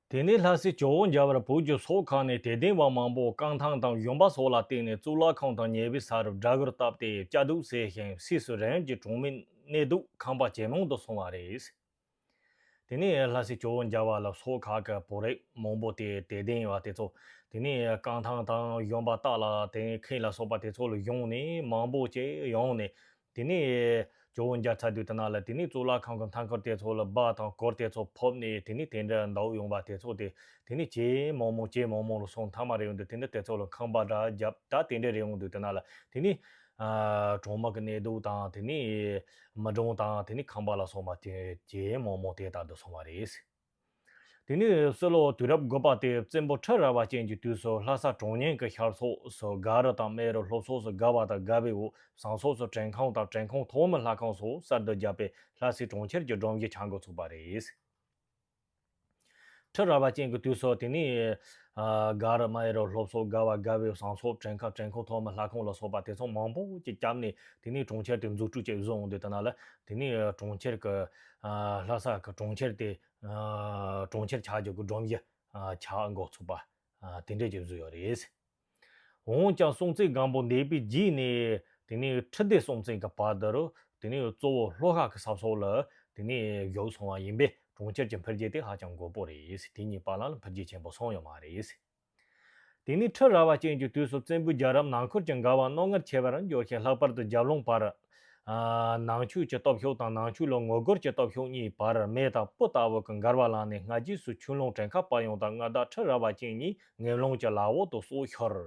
དེ་ནས་ལྷ་སའི་ཇོ་བོ་འཇའ་བར་བོད་ཀྱི་སོག་ཁག་ནས་དད་ལྡན་བ་མང་པོ་རྐང་ཐང་དང་གཞོན་པ་སོགས་ལ་བསྟེན་ནས་གཙུག་ལག་ཁང་དང་ཉེ་བའི་ས་རུ་སྦྲ་གུར་བཏབ་སྟེ་བཅའ་སྡུད་བྱས་ཤིང་ཕྱིས་སུ་རང་གི་གྲོང་མི་གནས་སྡོད་ཁང་པ་ཇེ་མང་དུ་སོང་བ་རེད། དེ་ནས་ལྷ་སའི་ཇོ་བོ་འཇའ་བ་ལ་སོག་ཁག་གི་བོད་རིགས་མང་པོ་དེ་དད་ལྡན་བ་དེ་ཚོ་དེ་ནས་རྐང་ཐང་དང་གཞོན་པ་སྟག་ལ་དེང་ཁེ་ལ་སོགས་པ་དེ་ཚོ་ལ་བཞུགས་ནས་མང་པོ་བཅས་ཡོང་ནས་དེ་ནས། ཇོ་བོ་འཇའ་ཚ་དུས་ཐ་ན་ལ་དེ་ནས་གཙུག་ལག་ཁང་གི་མཐའ་འཁོར་དེ་ཚོ་ལ་སྦག་དང་སྐོར་དེ་ཚོ་ཕོབ་ནས་དེ་ནས་དེ་འདྲ་འདའུ་ཡོང་བ་དེ་ཚོ་སྟེ་དེ་ནས་ཇེ་མང་མང་ཇེ་མང་མང་ལ་སོང་མཐའ་མ་རེ་ཡོང་དུས་དེ་འདྲ་དེ་ཚོ་ལ་ཁང་པ་འདྲ་རྒྱབ་ད་དེ་འདྲ་རེ་ཡོང་དུས་ཐ་ན་ལ་དེ་ནས། གྲོང་དམག་གི་གནས་སྡུག་དང་དེ་ནས། མི་གྲོང་དང་དེ་ནས་ཁང་པ་ལ་སོང་བ་དེ་ཇེ་མང་མང་དེ་ལྟར་དུ་སོང་བ་རེད། དེ་ནས་སྲོད་ལོ་དུས་རབས་དགུ་པ་སྟེ་བཙན་པོ་ཁྲི་རལ་བ་ཅན་གྱི་དུས་སུ་ལྷ་ས་གྲོང་ཉེན་གྱི་ཤར་ཕྱོགས་སུ་སྒ་རི་དང་སྨད་རི་ལྷོ་ཕྱོགས་སུ་སྒ་བ་དང་སྒ་བའི་འོག་ཟངས་ཕྱོགས་སུ་བྲན་ཁང་དང་བྲན་ཁང་ཐོག་མི་ལྷ་ཁང་སོགས་གསར་དུ་བརྒྱབ་པས་ལྷ་སའི་གྲོང་ཁྱེར་གྱི་སྒྲོམ་གཞི་ཆགས་འགོ་ཚུགས་པ་རེད། ཁྲི་རལ་བ་ཅན་གྱི་དུས་སུ་དེ་ནས། སྒ་རི་སྨད་རི་ལྷོ་ཕྱོགས་སྒ་བ་སྒ་བའི་ཟངས་ཕྱོགས་བྲན་ཁང་བྲན་ཁང་ཐོག་མི་ལྷ་ཁང་ལ་སོགས་པ་དེ་ཚོ་མང་པོ་ཅིག་བསྐྱབས་ནས་དེ་ནས་གྲོང་ཁྱེར་དེ་འཛུགས་སྐྲུན་བྱེད་བཟོ་འོང་དུས་དེ་ན་ལ་དེ་ནས་གྲོང་ཁྱེར་གྱི་ལྷ་ས་གྲོང་ཁྱེར་དེ་གྲོང་ཁྱེར་ཆགས་འཇོག་གི་སྒྲོམ་གཞི་ཆགས་འགོ་ཚུགས་པ་དེ་འདྲས་ཀྱང་བཟོས་ཡོད་རེད། འོན་ཀྱང་སྲོང་བཙན་སྒམ་པོ་འདས་པའི་རྗེས་ནས་དེ་ནས་ཁྲི་ལྡེ་སྲོང་བཙན་གྱི་བར་དུ་རུ་དེ་ནས་གཙོ་བོ་ལྷོ་ཁ་གི་ས་སོགས་ལ་དེ་ནས་བཞུགས་སོང་བ་ཡིན་པས་གྲོང་ཁྱེར་གྱི་འཕེལ་རྒྱས་དེ་ཧ་ཅང་མགོ་པོ་རེད་དེ་ཉིད་བར་ལམ་ལ་འཕེལ་རྒྱས་ཆེན་པོ་སོང་ཡོད་མ་རེད། དེ་ནས་ཁྲི་རལ་བ་ཅན་གྱི་དུས་སུ་བཙན་པོའི་རྒྱལ་རབས་ནང་འཁོར་གྱི་འགལ་བ་རྣོ་ངར་ཆེ་བར་འགྱུར་ཞིང་ལྷག་པར་དུ་རྒྱབ་ལུང་བར། ནང་ཆོས་ཀྱི་སྟོབས་ཤུགས་དང་ནང་ཆོས་ལ་ངོ་རྒོལ་གྱི་སྟོབས་ཤུགས་གཉིས་བར་མེ་དང་སྤུ་ལྟ་བུ་གི་འགལ་བ་ལངས་ནས་སྔ་རྗེས་སུ་ཆུ་ཀླུང་བྲན་ཁ་པ་ཡོངས་དང་མངའ་བདག་ཁྲི་རལ་བ་ཅན་ཉིད་ངན་ལོང་གྱི་ལག་འོག་ཏུ་སྲོག་ཤོར།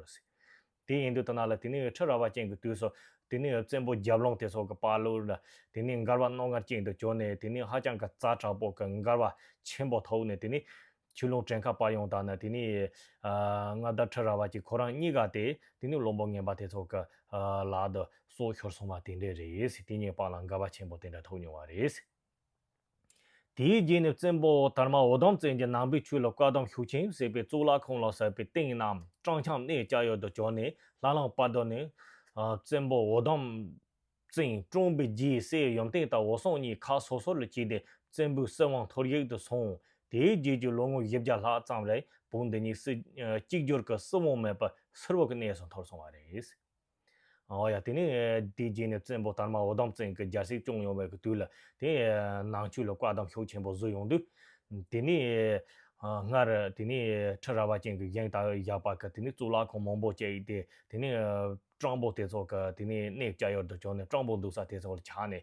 དེ་ཡིན་དུས་ཐ་ན་ལ་དེ་ནི་འོད་འཕྲོས་ར་བ་ཅན་གྱི་དུས་སོ། དེ་ནི་འོད་བཙན་པོ་རྒྱབ་ལོངས་དེ་སོགས་ཀྱི་དཔའ་ལུགས་ལ། དེ་ནི་མགར་བ་རྣོ་ངར་ཅན་དུ་གྱུར་ནས་དེ་ནི་ཧ་ཅང་གི་རྩ་དྲག་པོ་གི་མགར་བ་ཆེན་པོ་ཐོག་ནས་དེ་ནི། ཆུ་ལུང་བྲན་ཁ་དཔའ་ཡོངས་དག་ནི་དེ་ནི། མངའ་བདག་ཁྲི་ར་བ་ཅན་ཁོ་རང་གཉིས་ཀ་སྟེ་དེ་ནི་བློན་པོ་ངན་པ་དེ་ཚོ་གི། ལག་ཏུ་སྲོག་ཤོར་སོང་བ་དེ་འདྲས་རེད། དེ་ཉིད་པང་ལ་མགར་བ་ཆེན་པོ་དེ་འདྲ་ཐོག་མྱོང་བ་རེད། དེའི་རྗེས་ནས་བཙན་པོ་དར་མ་འོ་དམ་བཙན་གྱི་ནང་པའི་ཆོས་ལ་བཀའ་གདམས་ཤུགས་ཆེན་བསྲེས་པས་གཙུག་ལག་ཁང་ལ་ཟབ་པའི་སྟེང་ན་སྤྲང་འཁྱམས་གནས་ལྕགས་ཡོལ་དུ་བྱོན་ནས་ལྷ་ལམ་དཔའ་བརྡོལ་ནས། བཙན་པོ་འོ་དམ་བཙན་བཀྲོངས་པའི་རྗེས་སྲས་ཡུམ་བརྟན་དང་འོ་སྲོང་གཉིས་ཁ་སོ་སོ་ལ་བྱས་ཏེ་བཙན་པོའི་སྲིད་དབང་ཐོར་ཡིག་ཏུ་སོང། དེའི་རྗེས་ཀྱི་ལོ་ངོ་བཞི་བརྒྱ་ལྷག་ཙམ་རེར་བོད་འདི་ཉིད་གཅིག་གྱུར་གྱི་སྲིད་དབང་མེད་པར་སིལ་བུ་གྱི་གནས་སུ་འཐོར་སོང་བ་རེད། ཨོ་ཡ་དེ་ནི་དེའི་རྗེས་ནས་བཙན་པོ་དར་མ་འོ་དམ་བཙན་གྱི་རྒྱལ་སྲིད་སྐྱོང་ཡོང་བའི་དུས་ལ་དེ། ནང་ཆོས་ལ་བཀའ་གདམས་ཤུགས་ཆེན་པོ་བཟོས་ཡོང་དུས། དེ་ནི། སྔར་དེ་ནི་ཁྲི་རལ་བ་ཅན་གྱི་བཞེངས་སྟངས་བཞག་པ་ག་དེ་ནི་གཙུག་ལག་ཁང་མང་པོ་བཅས་ཡིན་ཏེ་དེ་ནི། སྤྲང་པོ་དེ་ཚོ་ག་དེ་ནི་གནས་བཅའ་ཡོར་དུ་བྱོན་ནས་སྤྲང་པོ་འདུག་ས་དེ་ཚོ་ལ་ཆགས་ནས་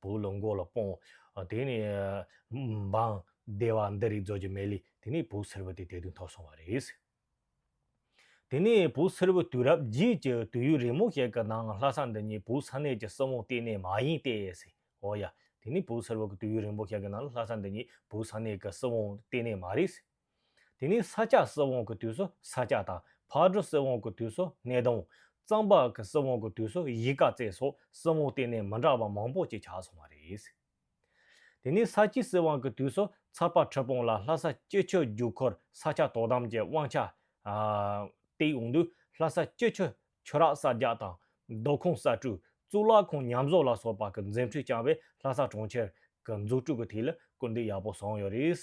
བུ་ལོན་མགོ་ལ་སྤོང། དེ་ནས། འབངས། སྡེ་བ་འདི་རིགས་རྫོགས་ཀྱི་མལ་ལས་དེ་ནས་བུ་སེར་བུ་དེ་དད་དུ་འཐོར་སོང་བ་རེད། དེ་ནས་བུ་སེར་བུ་དུས་རབས་རྗེས་ཀྱི་དུས་ཡུན་རིང་མོ་ཞིག་གི་ནང་ལྷ་ས་འདི་ཉིད་བུ་ས་གནས་ཀྱི་སྲིད་དབང་གཏན་ནས་མ་ཡིན་ཏེ། འོ་ཡ། དེ་ནས་བུ་སེར་བུ་གི་དུས་ཡུན་རིང་མོ་ཞིག་གི་ནང་ལྷ་ས་འདི་ཉིད་བུ་ས་གནས་ཀྱི་སྲིད་དབང་གཏན་ནས་མ་རེད། དེ་ནས་ས་སྐྱ་སྲིད་དབང་གི་དུས་སུ་ས་སྐྱ་དང་ཕག་གྲུ་སྲིད་དབང་གི་དུས་སུ་སྣེ་གདོང། གཙང་པགས་ཀྱི་སྲིད་དབང་གི་དུས་སུ་གཞིས་ཀ་རྩེ་སོགས་སྲིད་དབང་གཏན་ནས་མི་འདྲ་བ་མང་པོ་ཅིག་ཆགས་སོང་བ་རེད། དེ་ནས་ས་སྐྱའི་སྲིད་དབང་གི་དུས་སུ་ཚར་པ་ཁྲི་སྤུངས་ལ་ལྷ་ས་སྐྱིད་ཆུ་རྒྱུག་འཁོར་ས་སྐྱ་དོ་དམ་གྱི་དབང་ཆ་སྟེགས་འོང་དུས་ལྷ་ས་སྐྱིད་ཆུ་ཆུ་རགས་གསར་རྒྱག་དང། རྡོ་ཁུངས་གསར་བཀྲུས་གཙུག་ལག་ཁང་ཉམས་བཟོ་ལ་སོགས་པ་གྱི་འཛིན་ཁྲིད་བསྐྱངས་པས་ལྷ་ས་གྲོང་ཁྱེར་གྱི་འཛུགས་སྐྲུན་གྱི་ཐིག་ལེ་སྐུལ་འདེད་ཡག་པོ་བཟང་ཡོད་རེད།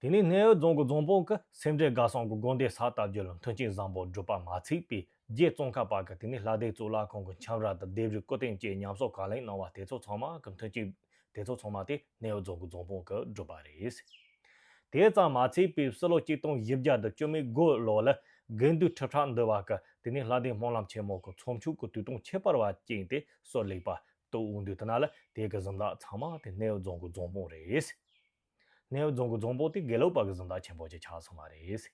དེ་ནས་སྣེའུ་རྫོང་གི་རྫོང་དཔོན་གྱིས་སེམས་འགྲེལ་དགའ་སང་གི་དགོན་སྡེ་ས་བཏབ་རྒྱུ་ལ་མཐུན་རྐྱེན་བཟང་པོ་བསྒྲུབས་པ་མ་ཚིག་པའི་རྗེས་ཙོང་ཁ་པ་གྱིས་དེ་ནས་ལྷ་སྡེ་གཙུག་ལག་ཁང་གི་འཁྱམས་ར་དང་ལྡེབས་རིས་སྐུ་རྟེན་བཅས་ཉམས་གསོ་གང་ལེགས་གནང་བ་དེ་ཚོ་ཚང་མ་གི་མཐུན་རྐྱེན་དེ་ཚོ་ཚང་མ་དེ་སྣེའུ་རྫོང་གི་རྫོང་དཔོན་གྱིས་བསྒྲུབས་པ་རེད། དེ་ཙམ་མ་ཚིག་པའི་སི་ལོ་གཅིག་སྟོང་བཞི་བརྒྱ་དང་བཅུ་མའི་དགུ་ལོ་ལ་དགེ་འདུན་ཁྲི་ཕྲག་འདུས་པ་གྱིས་དེ་ནས་ལྷ་སྡེ་སྨོན་ལམ་ཆེན་མོ་གྱི་ཚོམས་ཆུང་གི་དུས་སྟོང་ཁྱད་པར་བ་བཅིངས་ཏེ་གསོལ་ལེགས་པ་ཏུ་དབུ་འདུས་གནང་ལ་དེའི་གི་གཟིམ་བདག་ཚང་མ་དེ་སྣེའུ་རྫོང་གི་རྫོང་དཔོན་རེད། སྣེའུ་རྫོང་གི་རྫོང་དཔོན་དེ་དགེ་ལུགས་པ་གི་གཟིམ་བདག་ཆེན་པོ་ཅིག་ཆགས་སོང་བ་རེད།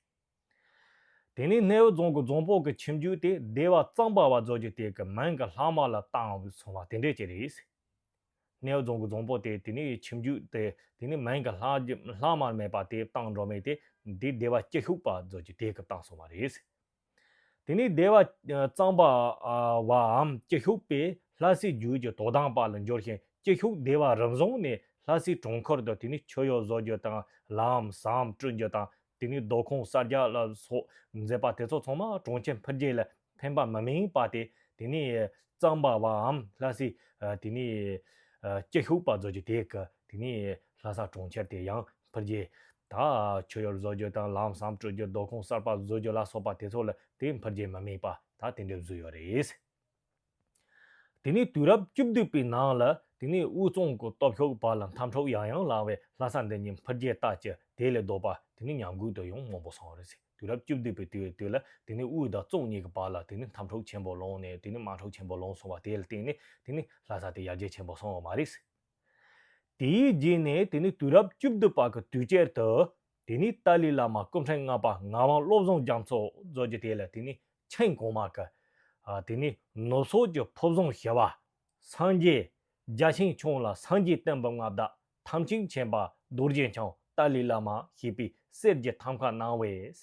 དེ་ནས་སྣེའུ་རྫོང་གི་རྫོང་དཔོན་གི་ཁྱིམ་རྒྱུད་དེ་སྡེ་བ་གཙང་པ་བ་རྫོགས་རྒྱུ་དེ་གི་མིང་གི་ལྷག་མ་ལ་བཏང་བས་སོང་བ་དེ་འདྲས་ཅིག་རེད། སྣེའུ་རྫོང་གི་རྫོང་དཔོན་དེ་དེ་ནས་ཁྱིམ་རྒྱུད་དེ་དེ་ནས་མིང་གི་ལྷག་མ་མེད་པ་དེ་བཏང་འགྲོ་མེད་དེ་དེ་སྡེ་བ་སྐྱིད་ཤུགས་པ་བ་རྫོགས་རྒྱུ་དེ་གི་བཏང་སོང་བ་རེད། དེ་ནས་བདེ་བ་གཙང་པ་བའམ་སྐྱེ་ཤུགས་པས་ལྷ་སའི་རྒྱུད་ཀྱི་དོ་དམ་པ་ལ་འབྱོར་ཞིང་སྐྱེ་ཤུགས་བདེ་བ་རབ་བཟུང་ནས་ལྷ་སའི་གྲོང་འཁོར་དུ་དེ་ནས་མཆོད་གཡོག་བཟོ་རྒྱུ་དང་ལམ་ཟམ་བསྐྲུན་རྒྱུ་དང་དེ་ནས་རྡོ་ཁུང་གསར་རྒྱག་ལ་སོགས་མཛད་པ་དེ་ཚོ་ཚང་མ་གྲོང་ཁྱེར་འཕེལ་རྒྱས་ལ་ཕན་པ་མི་དམིགས་པ་དེ་དེ་ནས་གཙང་པ་བའམ་ལྷ་སའི་དེ་ནས་སྐྱེ་ཤུགས་པ་བཟོ་རྒྱུ་དེ་ག་དེ་ནས་ལྷ་ས་གྲོང་ཁྱེར་དེ་ཡང་འཕེལ་རྒྱས། དང། ཁྱོད་ཡོར་བཟོ་རྒྱུ་དང་ལམ་བསམ་སྤྲོད་རྒྱུ་སྡོད་ཁང་གསར་པ་བཟོ་རྒྱུ་ལ་སོགས་པ་དེ་ཚོ་ལ་དེའི་འཕེལ་རྒྱས་མི་དམིགས་པ་ད་དེ་འདྲས་བཟོས་ཡོད་རེད། དེ་ནས་དུས་རབས་བཅུ་བདུན་པའི་ནང་ལ་དེ་ནས་དབུས་གཙང་གི་སྟོབས་ཤུགས་བར་ལ་འཐབ་འཁྲུག་ཡང་ཡང་ལངས་བས་ལྷ་ས་འདི་ཉིད་འཕེལ་རྒྱས་ལྟ་ཅི་དེ་ལས་ལྡོག་པ་དེ་ནས་ཉམས་རྒུད་དུ་ཡང་མང་པོ་སོང་རེད། དུས་རབས་བཅུ་བདུན་པའི་དུས་འོས་དུས་ལ་དེ་ནས་དབུས་དང་གཙང་གཉིས་ཀྱི་བར་ལ་དེ་ནས་འཐབ་འཁྲུག་ཆེན་པོ་ལངས་ནས་དེ་ནས་དམག་འཁྲུག་ཆེན་པོ་ལངས་སོང་བ་དེ་ལ་བརྟེན་ནས་དེ་ནས་ལྷ་ས་དེ་ཡར་རྒྱས་ཆེན་པོ་སོང་བ་མ་རེད། དེའི་རྗེས་ནས་དེ་ནི་དུས་རབས་བཅུ་བདུན་པ་གི་དུས་དཔྱད་དུ། དེ་ནི་ཏཱ་ལའི་བླ་མ་སྐུ་ཕྲེང་ལྔ་པ་ངག་དབང་བློ་བཟང་རྒྱ་མཚོ་མཛོད་ཀྱི་དེ་ལ་དེ་ནི་མཆན་གོང་མ་གི། དེ་ནི་ནུབ་སོག་གི་ཕུབ་བཟང་ཞི་བ། སངས་རྒྱས། རྒྱ་ཆེན་ཆུང་ལ་སངས་རྒྱས་བསྟན་པའི་མངའ་བདག་ཐམས་ཅད་མཁྱེན་པ་རྡོ་རྗེ་འཆང་ཏཱ་ལའི་བླ་མ་ཞེས་པའི་གསེར་གྱི་ཐམ་ཁ་གནང་བས།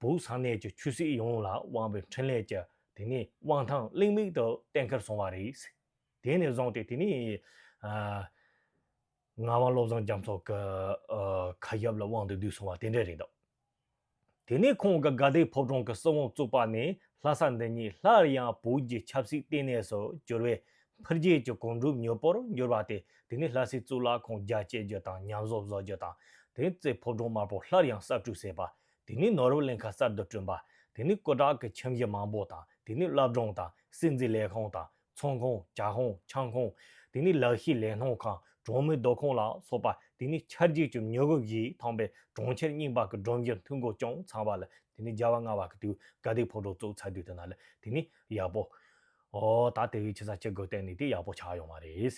བོད་གསང་གནས་ཀྱི་ཆོས་སྲིད་ཡོངས་ལ་དབང་བའི་འཕྲིན་ལས་ཀྱི་དེ་ནས་དབང་ཐང་གླེང་མིག་ཏུ་གཏན་འཁེལ་སོང་བ་རེད། དེ་ནས་བཟུང་སྟེ་དེ་ནས་ངག་དབང་བློ་བཟང་རྒྱ་མཚོ་གི་ཁ་ཞབས་ལ་དབང་དུ་བསྡུས་སོང་བ་དེ་འདྲ་རེད་འདུག་དེ་ནས་ཁོང་གི་དགའ་ལྡན་ཕོ་བྲང་གི་སྲིད་དབང་བཙུགས་པ་ནས་ལྷ་ས་འདི་ཉིད་སླར་ཡང་བོད་ཀྱི་ཆབ་སྲིད་ལྟེ་གནས་སུ་གྱུར་བའི་འཕེལ་རྒྱས་ཀྱི་གོམ་འགྲོས་མྱུར་པོར་འགྱུར་བ་དེ་དེ་ནས་ལྷ་སའི་གཙུག་ལག་ཁང་རྒྱ་བསྐྱེད་རྒྱུ་དང་ཉམས་བཟོ་བཟོ་རྒྱུ་དང་དེ་ཚེ་ཕོ་བྲང་དམར་པོ་སླར་ཡང་གསར་སྐྲུན་བྱེད་པ་དེ་ནས་ནོར་བུ་གླིང་ཁ་གསར་དུ་བསྐྲུན་པ། དེ་ནས་སྐུ་དྲག་གི་ཁྱིམ་གཞི་མང་པོ་དང་དེ་ནས་བླ་བྲང་དང་སྲིད་འཛིན་ལས་ཁང་དང་ཚོང་ཁང་བྱ་ཁང་ཆང་ཁང། དེ་ནས་ལག་ཤེས་ལས་སྣོན་ཁང་གྲོང་མིའི་སྡོད་ཁང་ལ་སོགས་པ་དེ་ནས་ཆར་རྒྱུག་གི་མྱུ་གུ་བཞིས་ཐང་པའི་གྲོང་ཁྱེར་རྙིང་པ་གི་སྒྲོམ་གཞིར་མཐུད་སྒོ་ཅུང་ཚང་བ་ལ་དེ་ནས་རྒྱལ་བ་ལྔ་བ་གི་དུས་དགའ་སྡིག་ཕོག་གྲོགས་བཙུགས་ཚར་དུས་དེ་ན་ལ་དེ་ནས་ཡག་པོ། ཨོ། ད་དེ་བས་ཆེ་ས་ཅི་དགོས་བལྟས་ནས་དེ་ཡག་པོ་ཆགས་ཡོང་བ་རེད།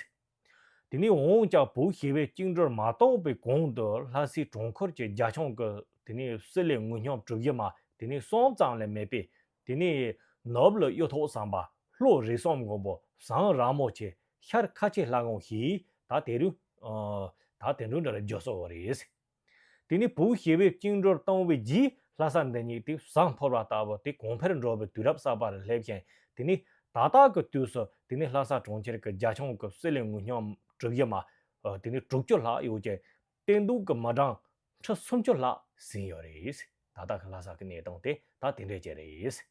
དེ་ནས་འོང་ལྕགས་བུ་ཞེས་པའི་བཅིངས་འགྲོལ་མ་གཏོགས་པའི་གོང་དུ་ལྷ་སའི་གྲོང་ཁུལ་གྱི་རྒྱ་ཁྱོང་གི་དེ་ནས་སི་ལའི་ངུ་སྙོམས་གྲུ་བཞི་མ་དེ་ནས་གསུམ་ཙམ་ལས་མེད་པས་དེ་ནས་ནུབ་ལ་གཡུ་ཐོག་ཟམ་པ་ལྷོ་རི་གསུམ་མགོན་པོ་ཟངས་རག་མོ་ཆེ་ཤར་ཁ་ཆེ་ལྷ་གོང་ཞེས་ད་དེ་རུ་ད་དེ་འདྲ་ལ་བརྗོད་སྲོལ་རེད། དེ་ནས་བུ་ཞེས་པས་བཅིངས་འགྲོར་བཏང་བས་རྒྱུའི་ལྷ་ས་འདི་ཉིད་དེ་བཟང་འཕོ་བར་བཏགས་པ་དེ་གོང་འཕེལ་འགྲོ་བའི་དུས་རབས་གསར་པ་ལ་སླེབས་ཤིང་དེ་ནས་ད་ལྟ་གི་དུས་སུ་དེ་ནས་ལྷ་ས་གྲོང་ཁྱེར་གྱི་རྒྱ་ཁྱོངས་ཀྱི་གསེར་ལས་ངོས་སྙོམས་གྲུབ་བཞི་མ་དེ་ནས་དྲུག་ཅུ་ལྷག་ཡོད་ཅིང་བསྟན་སྡུག་གི་མི་གྲངས་ཁྲི་སུམ་ཅུ་ལྷག་ཟིན་ཡོད་རེད། ད་ལྟ་གི་ལྷ་ས་ཀྱི་གནས་སྟངས་དེ་ད་དེ་འདྲ་ཅིག་རེད།